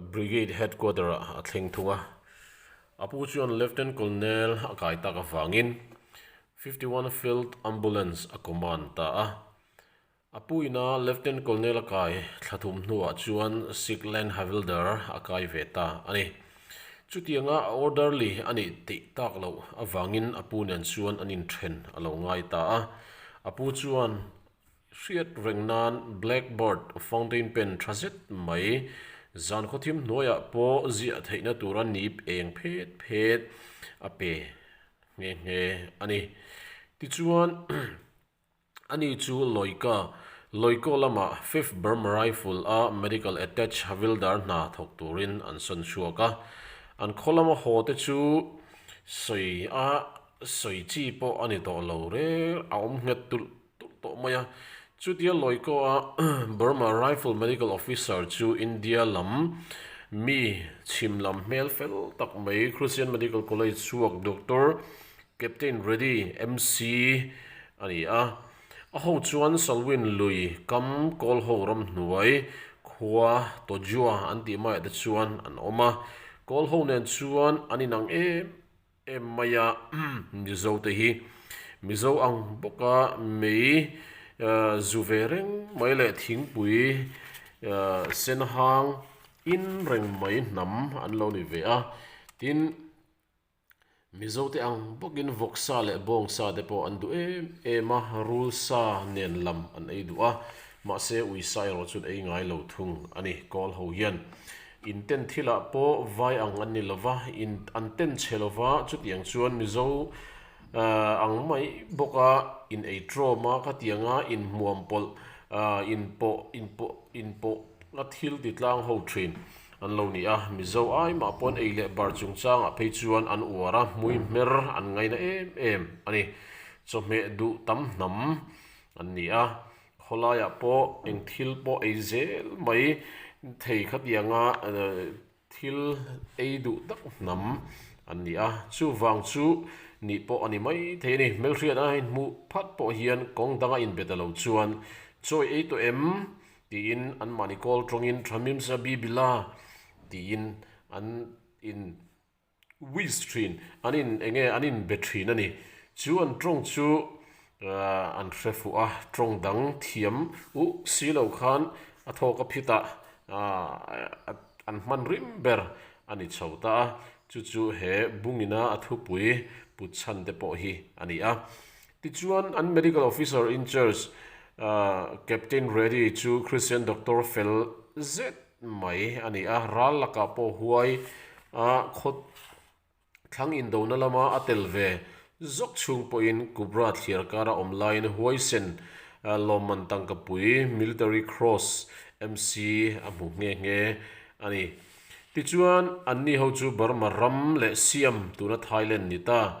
Brigade Headquarter ah a thleng thung a, a pu chuan Lieutenant Colonel a kai tak avangin Fifty One Field Ambulance a command ta a. A pu ina Lieutenant Colonel a kai thla thum hnuah chuan Sickland Havildar a kai ve ta a ni. Chutianga a orderly a nih tih tak loh avangin a pu nen chuan an inthen a lo ngai ta a, a pu chuan hriat reng nan blackboard fountain pen tha zet mai zan khawthim hnuaiah pawh ziah theihna tur a nip eng phet phet a pe nghe nghe a ni. Tichuan ani chu Lawika, Loiko lama Fifth Burma Rifle a Medical Attach Havildar hna thawk turin an sawn chhuak a. An khawlama haw te chu sawi a sawi chi pawh a ni tawh lo reng a awm nghet tulh tawh tawh mai a. Chutia Loikawa Burma Rifle Medical Officer chu India lam mi chhim lam hmel fel tak mai Christian Medical College chhuak Doctor Captain Reddy MC a ni a. A ho chuan Salween lui kam Kawlho ramhnuai khua Tojua an tih maiah te chuan an awm a. Kawlho nen chuan an inang em em. Em maia Mizo te hi Mizo ang bawk a mei zu ve reng mai leh thingpui sen hang in reng mai hnam an lo ni ve a tin Mizo te ang bawk in vawk sa leh bawng sa te pawh an duh em em a rul sa nen lam an ei duh a mahse ui sa erawh chu an ei ngai lo thung a ni Kawl ho hian In ten thil ah pawh vai ang an ni lova, in an ten che lova, chutiang chuan Mizo ang mai bawk a in ei trawm a ka ti ang a, in hmuam pawlh in pawh in pawh in pawh a thil ti tlang ho thin an lo ni a, Mizo ai mah paw'n ei leh bar chung chang ah phei chuan an uar a, hmui hmer an ngaina em em a ni, chawhmeh duh tam hnam an ni a. Khawlaiah pawh eng thil pawh ei zel mai thei khatiang a, thil ei duh tak hnam an ni a. Chuvang chu nih pawh a ni maithei a ni. Hmelhriatah in hmuh phat pawh hian kawng danga inbet a lo chuan chawi ei tawh em? tiin anmahni kawl tawngin Tha hmimsa bi bila? tiin an in. Wiz thin an in eng nge an in be thin a ni. Chu an tawng chu an hre fuh a, tawng dang thiam uh si lo khan a thawk a phit a, an hman rim ber a ni chho ta a, chu chu he bung in a a thupui put chhan te pawh hi a ni a. Tichuan an Medical Officer in Charge Captain Reddy chu Christian Doctor fel zet mai a ni a, ral lakah pawh huai a khaw thlang indona lama a tel ve zawk chhung pawhin Kubrat thliar kara awm laiin huaisen lawmman tangkapui, military cross, MC a hmuh nghe nghe a ni. Tichuan anni ho chu Burma ram leh Siam tuna Thailand ni ta.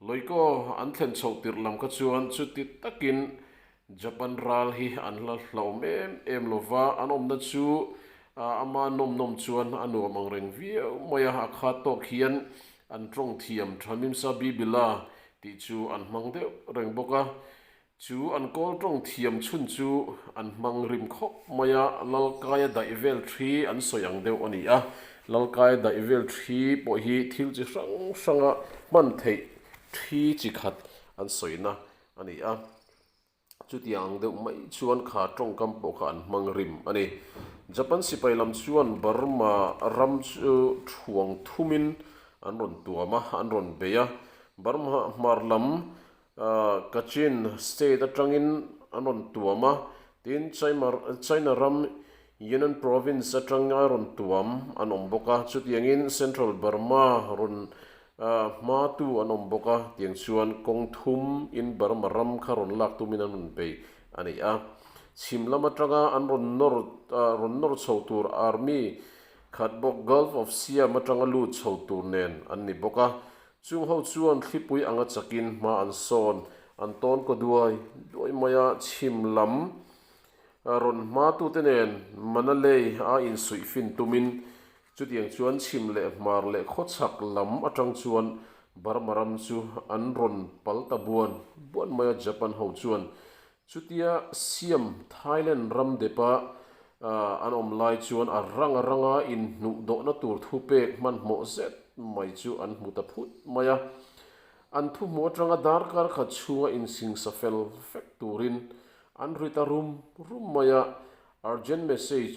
Loiko an thlen chhoh tirh lam kha chuan chuti takin Japan ral hi an hla hlauhawm em em lo va, an awmna chu a ama nawm nawm chuan a nuam ang reng viau mai a, a khat tawk hian an tawngthiam tha mimsa bibil a tih chu an hmang deuh reng bawk a, Chu an kawl tawng thiam chhun chu an hmang rim khawp mai a, Lalkaia daih vel thi an sawi ang deuh a ni a, Lalkaia daih vel thi pawh hi thil chi hrang hranga hman theih thi chi khat an sawina a ni a, chutiang ang deuh mai chuan kha tawngkam pawh kha an hmang rim a ni. Japan sipai lam chuan Burma ram chu thuang thumin an rawn tuam a, an rawn bei a, Burma hmar lam Kachin state atangin an rawn tuam a, tin China ram Yunnan province atanga rawn tuam an awm bawk a, chutiangin Central Burma rawn hma tu an awm bawk a, tiang chuan kawng thum in Burma ram kha rawn lak tumin an rawn bei a ni a. Chhim lam atanga an rawn nawr rawn nawr chho tur army khat bawk Gulf of Siam atanga lut chho tur nen an ni bawk a, Chung ho chuan thlipui anga chakin hma an sawn, an tawn kaw duai duai mai a, chhim lam rawn hma tute nen Manalei a insuih fin tumin chutiang chuan chhim leh hmar leh khaw chhak lam atang chuan Burma ram chu an rawn pal ta buan buan mai a, Japan ho chuan Chutia Siam, Thailand ram depa an awm lai chuan a rang ranga inhnuh dawhna tur thu pek hmanhmawh zet mai chu an hmu ta phut mai a. An thu hmu atanga darkar khat chhunga insingsa fel vek turin an rit a rum rum mai a, urgent message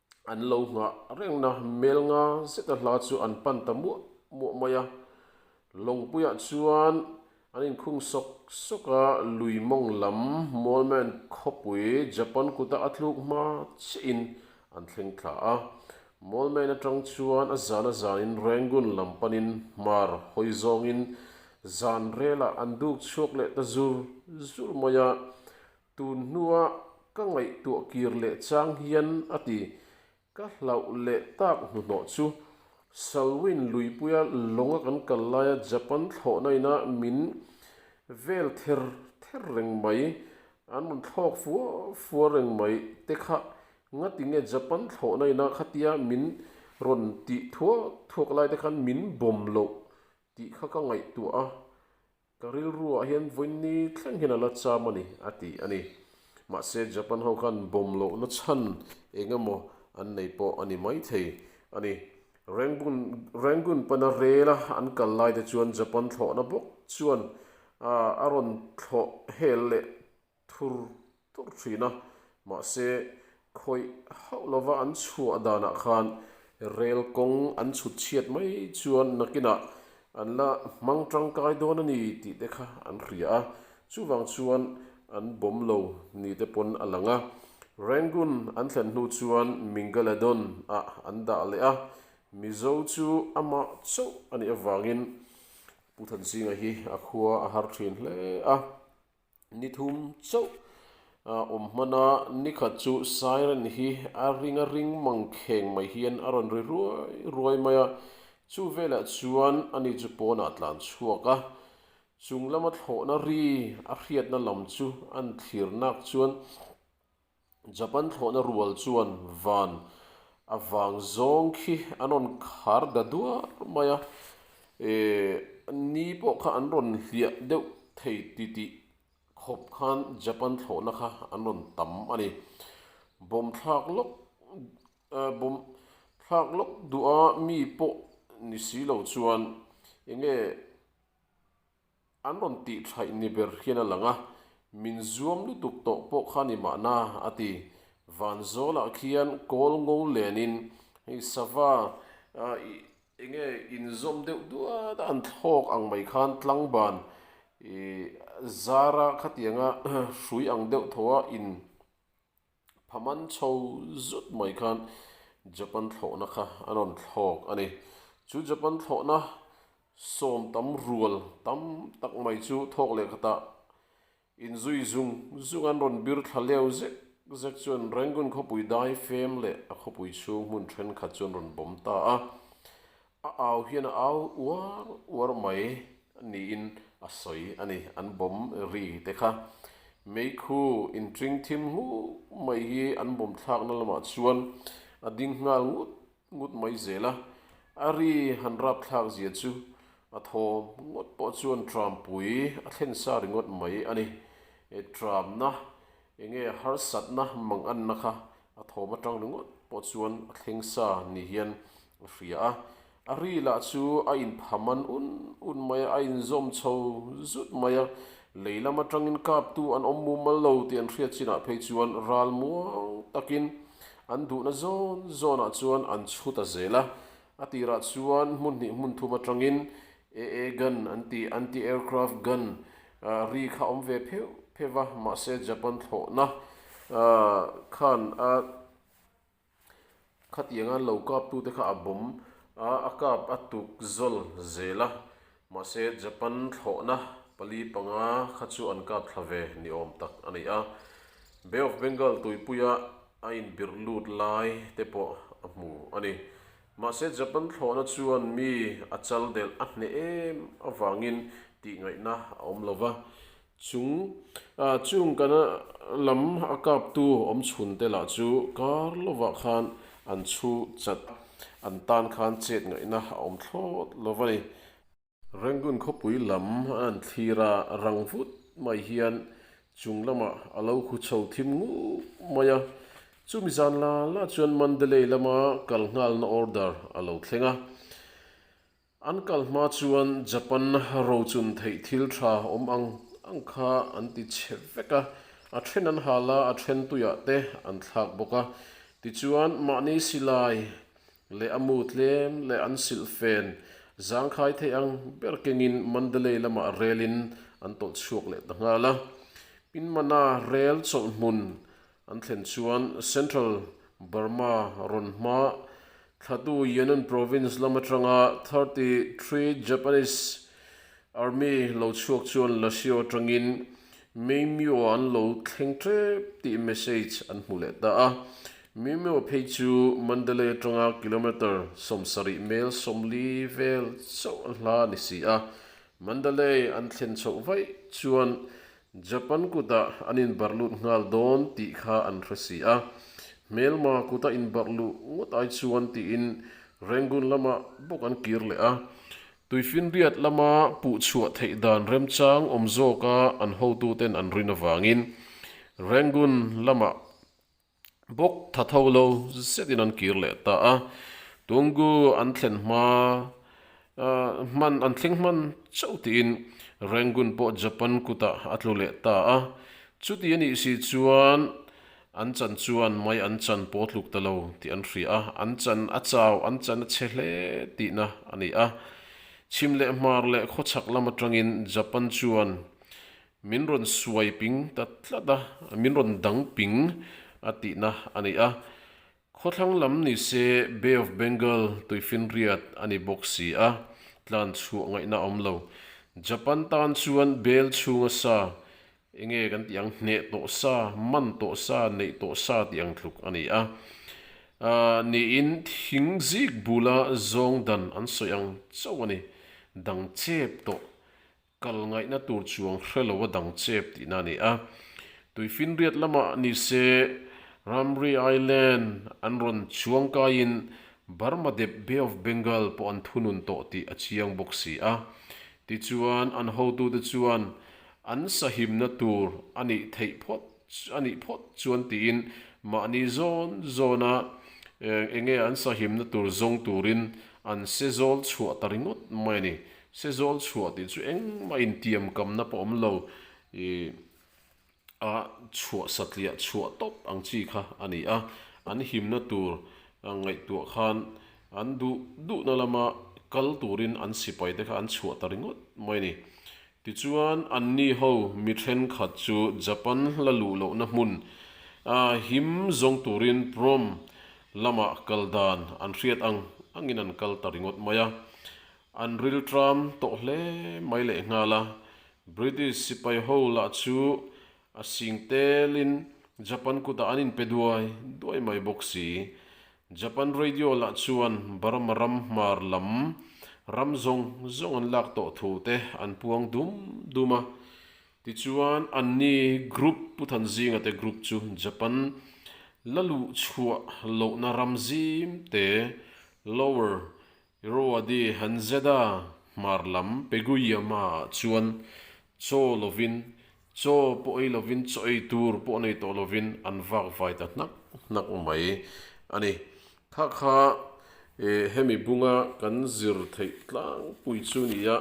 An lo nghah rengna hmel nga zeta hla chu an pan ta muah muah mai a. Lawngpuiah chuan an inkhung sawk sawk a, lui mawng lam Mawlman khawpui Japan kuta a tluk hma chiahin an thleng thla a. Mawlman atang chuan a zana zanin Rangoon lam panin hmar hawi zawngin zanrelah an duk chhuak leh ta zur zur mai a. Tun hnua ka ngaihtuah kir leh chang hian a ti. Ka hlauh leh tak hnuhnawh chu Salween luipuia lawnga kan kal laia Japan thlawhna ina min vel ther ther reng mai, an rawn thlawk fua fua reng mai te kha nga ti nge Japan thlawhna ina khatia min rawn ti thuak thuak lai te khan min bawm loh tih kha ka ngaihtuah a. Ka rilruah hian vawiin ni thlengin a la cham a ni, a ti a ni. Mahse, Japan ho khan bawm lohna chhan eng emaw an nei pawh a ni maithei a ni. Rangoon, Rangoon pana rela an kal laite chuan Japan thlawhna bawk chuan a rawn thlawh hel leh thur thur thin a, mahse khawih hauh lova an chhuah danah khan rel kawng an chhut chhiat mai chuan nakinah an la hmang tangkai dawn a ni tih te kha an hria a, chuvang chuan an bawm lo ni te pawn a lang a. Rangoon an thlen hnu chuan Mingaladon ah an dah leh a, Mizo chu amah chauh a nih avangin Pu Thansinga hi a khua a har thin hle a. Ni thum chauh a awm hman a, ni khat chu siren hi a ring a ring mang kheng mai hian a rawn ri ruai ruai mai a, chu velah chuan a ni chu pawn a tlan chhuak a. Chung lama thlawhna ri a hriatna lam chu a thlir nak chuan. Japan thlawhna rual chuan van a vang zawng khi an rawn khar da duar mai a, eeh ni pawh kha an rawn hliah deuh thei titih khawp khan Japan thlawhna kha an rawn tam a ni. Bomb thlak lawk eeh bomb thlak lawk duh a mi pawh ni si lo chuan enge. An rawn tih thlaih ni ber hian a lang a, min zuam lutuk tawh pawh kha ni mahna a ti. Vanzawlah khian kawl ngo lenin, Hei Sava, i enge inzawm deuh duat a an thlawk ang mai khan tlangban zara khatianga hrui ang deuh tho a in. Phaman chho zut mai khan Japan thlawhna kha a rawn thlawk a ni. Chu Japan thlawhna sawm tam rual tam tak mai chu thawk leh khatah inzui zung zung an rawn bir thla leu zek zek chuan Rangoon khawpui dai fem leh a khawpui chhung hmun thenkhat chu an rawn bawm ta a. A au hian a au uar uar mai niin a sawi a ni. An bawm ri te kha meikhu intring thim nghut mai hi an bawm thlakna lamah chuan a ding nghal ngut ngut mai zel a. A ri han rap thlak zia chu a thawm ngawt pawh chuan ṭampui a thlen sa ringawt mai a ni. Ṭamna. Enge harsatna manganna kha a thawm atang ringawt pawh chuan a thleng sa ni hian a hria a. A ri lah chu a inphaman un un mai a, a inzawm chho zut mai a. Lei lam atangin kaptu an awm mumal lo tih an hriat chinah phei chuan ral muang takin an duhna zawn zawnah chuan an chhu ta zel a. A tirah chuan hmunhnih hmunthum atangin AA gun, an ti, anti-aircraft gun, a ri kha awm ve pheuh pheuh a, mahse Japan thlawhna khan a khatiang a, lo kaptute kha a bawm a, a kap a tuk zawlh zel a, mahse Japan thlawhna pali panga kha chu an kap thla ve ni awm tak a ni a, Bay of Bengal tuipuia a inbirh lut lai te pawh a hmu a ni. Mahse Japan thlawhna chuan mi a chal delh a hneh em avangin tihngaihna a awm lo va, chung chung kan lam a kaptu awmchhunte lah chu kar lovah khan an chhu chat an tan khan chetngaihna a awm thlawt lo va ni. Rangoon khawpui lam a an thlir a, rang vut mai hian chung lamah a lo khu chho thim ngup mai a. Chumi zan la la chuan Mandalay lama kal nghalna order a lo thleng a. An kal hma chuan Japan rochun theih thil tha awm ang ang kha an ti che vek a, a then an hal a, a then tuiah te an thlak bawk a. Tichuan mahni silai leh a mu tlem leh an silh fen Zangkhai thei ang ber kengin Mandalay lamah relin an tawlh chhuak leh ta nghal a. Pinmana rel chawlh hmun an thlen chuan Central Burma rawn hma thlatu Yangon Province lam atanga thirty three Japanese Army lo chhuak chuan Lasio atangin Meimyo an lo thleng tep tih message an hmu leh ta a. Meimyo phei chu Mandalay atanga kilometre sawmsarih mel sawmli vel chauh a hla ni si a. Mandalay an thlen chhoh vaih chuan Japan kutah an inbarh lut nghal dawn tih kha an hre si a. Hmelma kuta inbarh luh ngawt ai chuan tiin Rangoon lamah bawk an kir leh a. Tuifinriat lama puh chhuah theih dan remchang awm zawka an hotute'n an rin avangin Rangoon lamah bawk tha tho lo zetin an kir leh ta a. Tungu an thlen hma hman an thleng hman chauh tiin Rangoon pawh Japan kutah a tlu leh ta a. Chuti a nih si chuan An chan chuan mai an chan paw tluk ta lo tih an hria a, an chan a chau, an chan a che hle tihna a ni a. Chhim leh hmar leh khawchhak lam atangin Japan chuan min rawn suai ping ta tlat a, min rawn dang ping a tihna a ni a. Khawthlang lam ni se Bay of Bengal tuifinriat a ni bawk si a, tlan chhuah ngaihna a awm lo. Japan tan chuan bel chhunga sa, enge kan tih ang hneh tawh sa, man tawh sa, neih tawh sa tih ang tluk a ni a, niin thing zik bula zawng dan an sawi ang chauh a ni, dang chep tawh Kal ngaihna tur chuang hre lo a dang chep tihna a ni a. Tuifinriat lamah ni se, Ramri Island an rawn chuang kaiin Burma dep Bay of Bengal pawh an thunun tawh tih a chiang bawk si a. Tichuan an hotute chuan an sahimna tur a nih theih phawt. Chu a nih phawt chuan tiin mahni zawn zawna eng nge an sahimna tur zawng turin an se zawl chhuah ta ringawt mai a ni. Se zawl chhuah tih chu engmah intiam kamna pawh awm lo i a chhuah satliah chhuah tawp ang chi kha a ni a. An himna tur ngaihtuah khan an duh duhna lama kal turin an sipai te kha an chhuah ta ringawt mai a ni. Tichuan anni ho mi thenkhat chu Japan la luh lohna hmun a him zawng turin Prom lamah kal dan an hriat ang angin an kal ta ringawt mai a. An riltram tawh hle mai lehnghal a, British sipai ho lah chu a sing telin Japan kutah an inpe duai duai mai bawk si. Japan Radio lah chuan Burma ram hmar lam ram zawng zawng an lak tawh thu te an puang dum dum a. Tichuan an ni group Pu Than Zinga te group chu Japan la luh chhuah lohna ram zim te, lower, Irrawaddy han zet a, hmar lam Pegui ama chuan chaw lovin, chaw pawh ei lovin, chaw ei tur pawh nei tawh lovin an vak vai ta hnak hnak mai a ni. Kha kha eh hemi bunga kan zir theih tlangpui chu nia,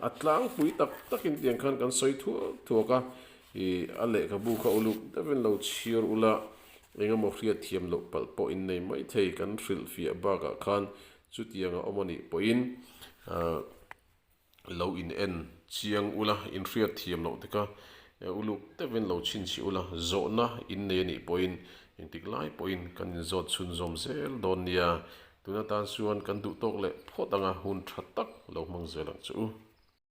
a tlangpui tak tak in tiang khan kan sawi thuak thuak a, ih a lehkhabu kha uluk devin lo chhiar ula, engemaw hriat thiam loh palh pawh innei maithei kan hrilh fiah bakah khan Chutiang a awm a nih pawhin lo in en chiang ula, in hriat thiam loh teka uluk deuhin lo chhinchhih ula, zawhna in nei a nih pawhin engtik lai pawhin kan in zawt chhunzawm zel dawn nia, tuna tan chuan kan duhtawk leh phawt anga hun tha tak lo hmang zel ang chu.